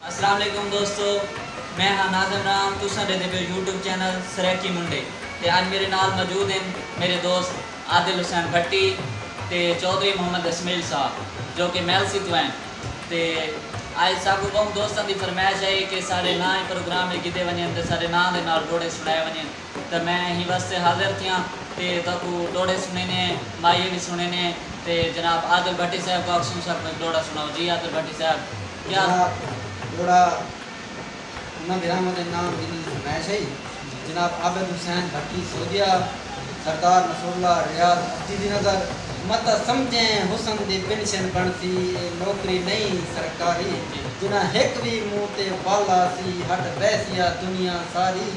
السلام علیکم دوستو میں ہاں ناظم رام تساں ڈیندے پیو یوٹیوب چینل سرائیکی منڈے تے اج میرے نال موجود ہن میرے دوست عادل حسین بھٹی تے چوہدری محمد اسمیل صاحب جو کہ میلسی توں ہن تے اج ساکوں بہوں دوستاں دی فرمائش ہئی کہ ساڈے ناں ایں پروگرام اچ گھدے ونجن تے ساڈے ناں دے نال ڈوہڑے سنڑائے ونجن تاں میں ایں واسطے حاضر تھیاں تے تہاکوں ڈوہڑے سنڑینے ہیں ماہیے وی سنڑینے ہیں تے جناب عادل بھٹی صاحب کوں آکھسوں ساکوں ہک ڈوہڑا سنڑاؤ جی عادل بھٹی صاحب۔ جناب جوڑا انہاں دے رحمت دے نام دی فرمائش ہئی جناب عابد حسین بھٹی سودھیا سردار نصر اللہ ریاض ابدی دی نظر متہ سمجھیں حسن دی پنشن بنڑسی اے نوکری نئیں سرکاری جنہاں ہک وی منہ تے ول آسی ہٹ بیسیا دنیا ساری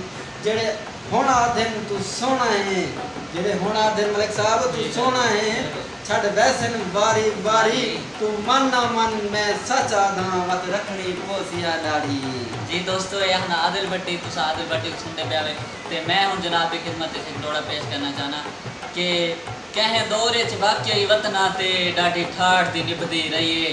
جیڑھے ہن آدھن توں سوہنڑا ہیں جیڑھے ہن آدھن ملک صاحب توں سوہنڑا ہیں۔ چھڈ ویسن واری واری توں من نہ من میں سچ آدھاں وت رکھنی پوسی آ ڈاڑھی۔ جی دوستو اے ہن عادل بھٹی تساں عادل بھٹی کوں سنڑدے پیا وے تے میں ہن جناب دی خدمت اچ ہک ڈوہڑا پیش کرنا چاہناں کہ کہیں دور اچ واقعی وطناں تے ڈاڈھی ٹھاٹھ دی نبھدی رہی اے۔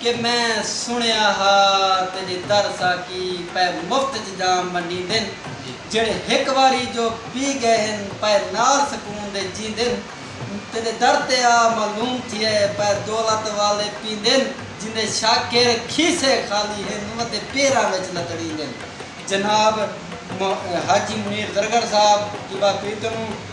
کہ میں سنڑیا ہا تیڈے در ساقی پئے مفت اچ جام ونڈیندن جیڑھے ہک واری جو پی گئے ہن پئے نال سکون دے جیندن تیڈے در تے آ معلوم تھیے پئے دولت والے پیندن جیندے شاکر کھیسے خالی ہن اوندے پیراں وچ لتڑیندن جناب حاجی منیر زرگر صاحب جوباقی تنوں۔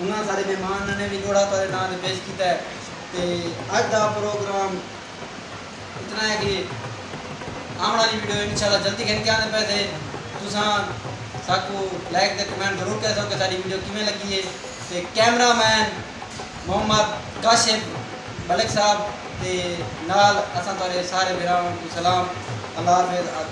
انہاں سارے مہمان ننے وی لوڑھا تہاڈے ناں تے پیش کیتا ہے تے اج دا پروگرام اتنا ہے کہ آون والی ویڈیو انشاءاللہ جلدی گھن کے آندے پئے سے تساں ساکو لائک تے کمنٹ ضرور کریسو کہ ساڈی ویڈیو کیویں لگی ہے تے کیمرہ مین محمد کاشف ملک صاحب تے نال اساں تہاڈے سارے بھراواں کوں سلام اللہ حافظ۔